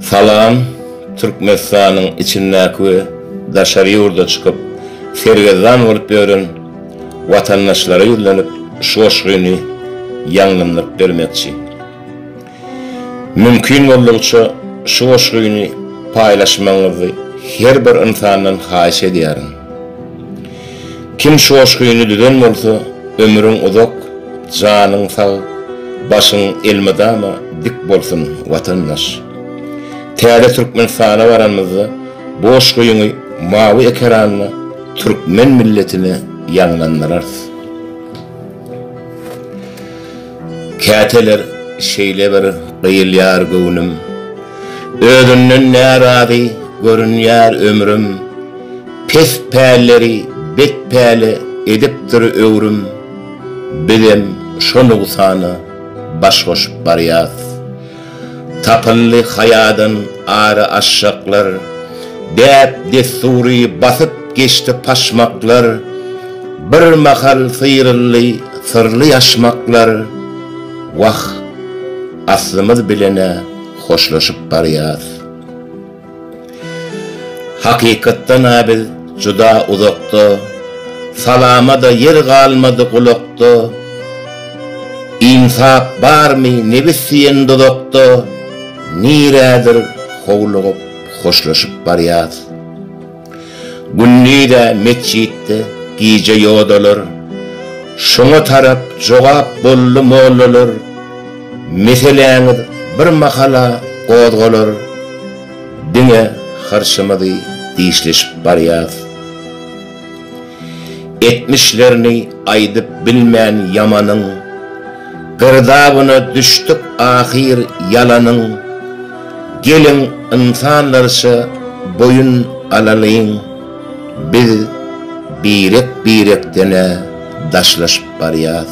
Salam, Türkmenistanyň içindäki we daşary ýurda çykyp sergezdan bolup ýören watandaşlara ýüzlenip şu goşgyny ýaňlandyryp bermekçi. Mümkin boldugyça şu goşgyny paýlaşmagyňyzy her bir ynsandan haýyş edýärin. Kim şoşgyny düzen bolsa, ömrüň uzak, janyň sag, başyň elmydama dik bolsun, watandaş! Täze Türkmenistana baranymyzda boşgyňy mawy ekeranda türkmen milletine ýaňlandyrarys. Käteler şeýle bir gyýylýar göwnüm, Özünden närazy görünýär ömrüm. Pes pälleri bet päle edipdir öwrüm bizem şo nugsana baş goşup barýas. Tapyldy haýadan ary aşşaklar, däp dessury basyp geçdi paşmaklar, bir mahal syryldy syrly ýaşmaklar, wah aslymyz bilenä hoşlaşyp barýas. Hakykatdan-a biz juda uzakda, Salama-da ýer galmady gulakda, Ynsap barmy nebis diýen duzakda, Nirädir howlugyp hoşlaşyp barýas. Gündiz-ä metjitde, gije ýodalar. Şoňa tarap jogap boldy mollalar. Meseläňiz bir mahala gozgalar. Diňe hyrçymyzy dişleşip barýas. Etmişlerini aýdyp bilmän ýamanyň. Girdabyna düşdük ahyr ýalanyň. Geliň ynsanlarça boýun alalyň, biz birek-birekden-ä daşlaşyp barýas.